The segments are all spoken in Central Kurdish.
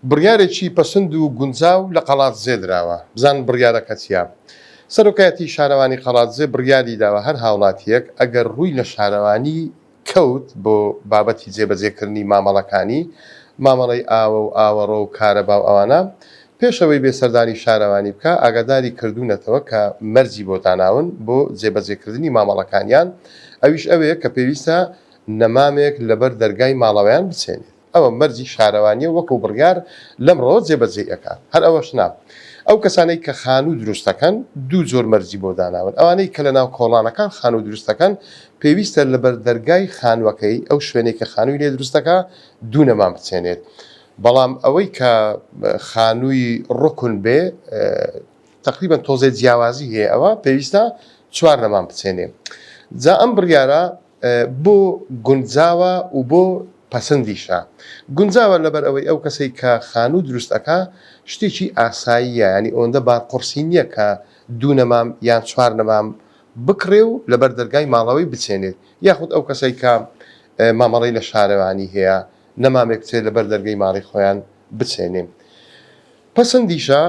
بڕیارێکی پەسند و گونجاو لە قەڵادزێ دراوە، بزانن بڕیارەکە چییە؟ سەرۆکایەتیی شارەوانی قەڵادزێ بڕیاری داوە هەر هاوڵاتییەک ئەگەر رووی لە شارەوانی کەوت بۆ بابەتی جێبەجێکردنی مامەڵەکانی، مامەڵەی ئاوە و ئاوەڕۆ و کارەبا و ئەوانە، پێش ئەوەی بێ سەردانی شارەوانی بکا، ئاگاداری کردوونەتەوە کە مەرجی بۆ داناون بۆ جێبەجێکردنی مامەڵەکانیان، ئەویش ئەوەیە کە پێویستە نەمامێک لەبەر دەرگای ماڵەوەیان بچێنێت. ئەوە مەرجی شارەوانیە و وەکو بڕیار لەمڕۆوە جێبەجێی ئەکات. هەر ئەوەش نا. ئەو کەسانەی کە خانوو دروست دەکەن دوو جۆر مەرجی بۆ داناون، ئەوانەی کە لەناو کۆڵانەکان خانوو دروست دەکەن پێویستە لەبەر دەرگای خانووەکەی، ئەو شوێنەی کە خانووی لێ دروست دەکا، دوو نەمام بچێنێت. بەڵام ئەوەی کە خانووی ڕوکن بێ، تەقریبەن تۆزێ جیاوازی هەیە، ئەوە پێویستە چوار نەمام بچێنێ. جا ئەم بڕیارە بۆ گونجاوە و بۆ پەسندیشە. گونجاوە لەبەر ئەوەی ئەو کەسەی کە خانوو دروست ئەکا شتێکی ئاساییە یانی ئەوەندە بار قوڕسی نیە کە دوو نەمام یان چوار نەمام بکڕێ و لەبەر دەرگای ماڵەوەی بچێنێت یاخود ئەو کەسەی کە مامەڵەی لە شارەوانی هەیە نەمامێک بچێت لەبەر دەرگەی ماڵی خۆیان بچێنێ. پەسندیشە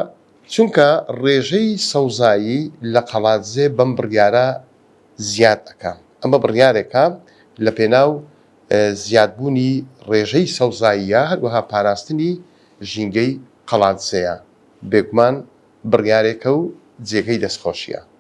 چونکە ڕێژەی سەوزایی لە قەڵادزێ بەم بڕیارە زیاد ئەکا. ئەمە بڕیارێکە لە پێناو زیاد بوونی ڕێژەی سەوزاییە هەروەها پاراستنی ژینگەی قەڵادزێیە. بێگومان بڕیارێکە و جێگەی دەستخۆشیە.